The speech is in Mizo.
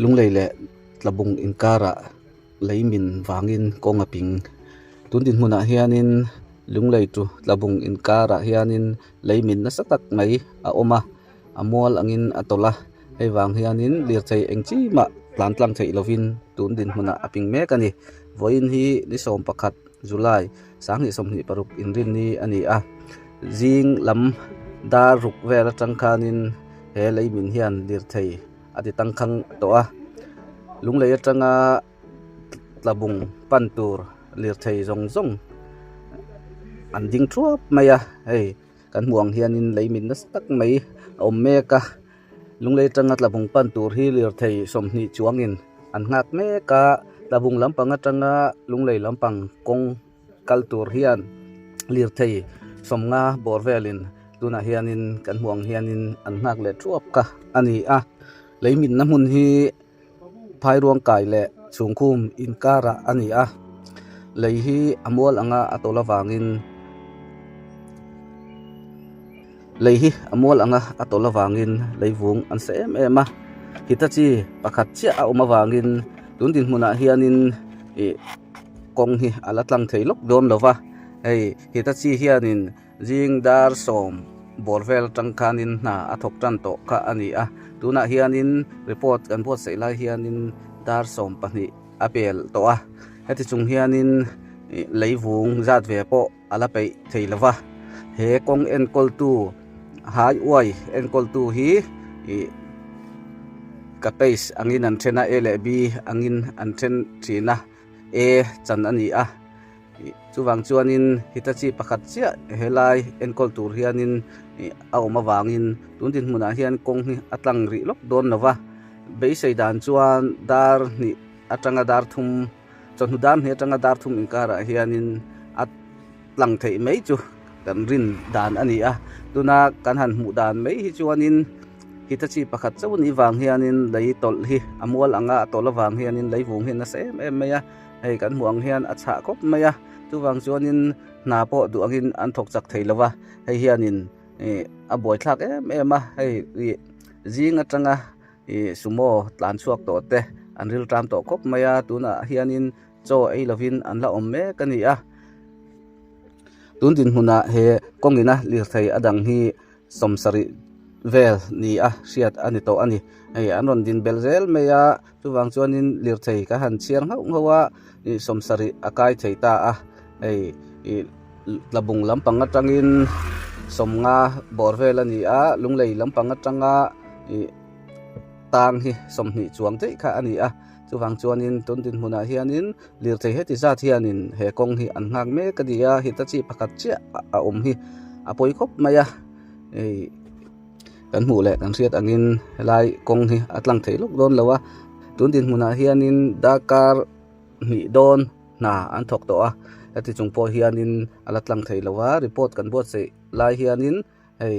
Lunglei leh tlabung inkarah lei min vangin kawng a ping. Tun dinhmunah hianin lunglei ṭu tlabung inkarah hianin lei min nasa tak mai a awm a, a mual angin a tawlh a. Hei vang hianin lirthei eng chimah tlantlang theih lovin tun dinhmunah a ping mek a ni. Vawiin hi ni sawm pakhat. July, Sanghnih sawmhnih paruk inrinni a ni a, zing lam dar ruk vel atang khanin he lei min hian lirthei a ti tangkhang tawh a. Lunglei atanga tlabung pan tur lirthei zawng zawng an ding thuap mai a, hei kan hmuh ang hianin lei min nasa tak mai a awm mek a. Lunglei tanga tlavung pan tur hi lirthei sawmhnih chuangin an nghak mek a, tlavung lampang atanga lunglei lampang kawng kal tur hian lirthei sawmnga bawr velin tunah hianin kan hmuh ang hianin an nghak leh thuap kha a ni a. Leimitna hmun hi. Phairuang kai leh chungkhum inkarah a ni a, lei hi a mual anga a tawlh avangin lei hi a mual anga a tawlh avangin leivung an sa em em a, Hitachi pakhat chiah a awm avangin tun dinhmunah hianin ih kawng hi a la tlang thei lawk dawn lova hei Hitachi hianin-- Zing dar sawm bawr vel atang khanin hna a thawk tan tawh kha a ni a. Tunah hianin report kan buatsaih lai hianin dar sawm pahnih a pel tawh a. Heti chung hianin leivung zat ve pawh a la peih thei lo va. He kawng enkawltu, hai uai enkawltu hi ka page angin an then a, A leh B angin an then thin a. e chan a ni a. Chuvang chuanin Hitachi pakhat chiah helai enkawl tur hianin a awm avangin tun dinhmunah hian kawng hi a tlang rih lawk dawn lova, beisei dan chuan dar hnih atanga dar thum, chawhnu dar hnih atanga dar thum inkarah hianin a tlang theih mai chu kan rin dan a ni a. Tuna kan han hmuh dan mai hi chuanin. Hita chi pakhat chauh ni vang hianin lei tawlh hi a mual ang a, a tawlh avang hianin leivung hi a nasa em em mai a, hei kan hmuh ang hian a chhah khawp mai a, chuvang chuanin hna pawh duangin an thawk chak thei lova, hei hianin a buaithlak em em a, hei zing atanga sumo tlan chhuak tawh te an rilṭam tawh khawp mai a, tunah hianin chaw ei lovin an la awm mek a ni a. Tun dinhmunah he kawngin a lirthei a dang hi sawmsarih vel ni a hriat a ni tawh a ni. Hei an rawn din bel zel mai a, chuvang chuanin lirthei ka han chhiar nghauh nghauh a, ih sawmsarih a kai thei ta a, hei ih tlabung lampang atangin sawmnga bawr vel a ni a, lunglei lampang atanga ih tang hi sawmhnih chuang daih kha a ni a, chuvang chuanin tun dinhmunah hianin Lirthei heti zat hianin he kawng hi an nghak mek a ni a, heta chi pakhat chiah a awm hi a pawi khawp mai a. Hei kan hmuh leh kan hriat angin helai kawng hi a tlang thei lawk dawn lo a, tun dinhmunah hianin dark car hnih dawn hna an thawk tawh a, heti chung pawh hianin a la tlang thei lo a, report kan buatsaih lai hianin hei.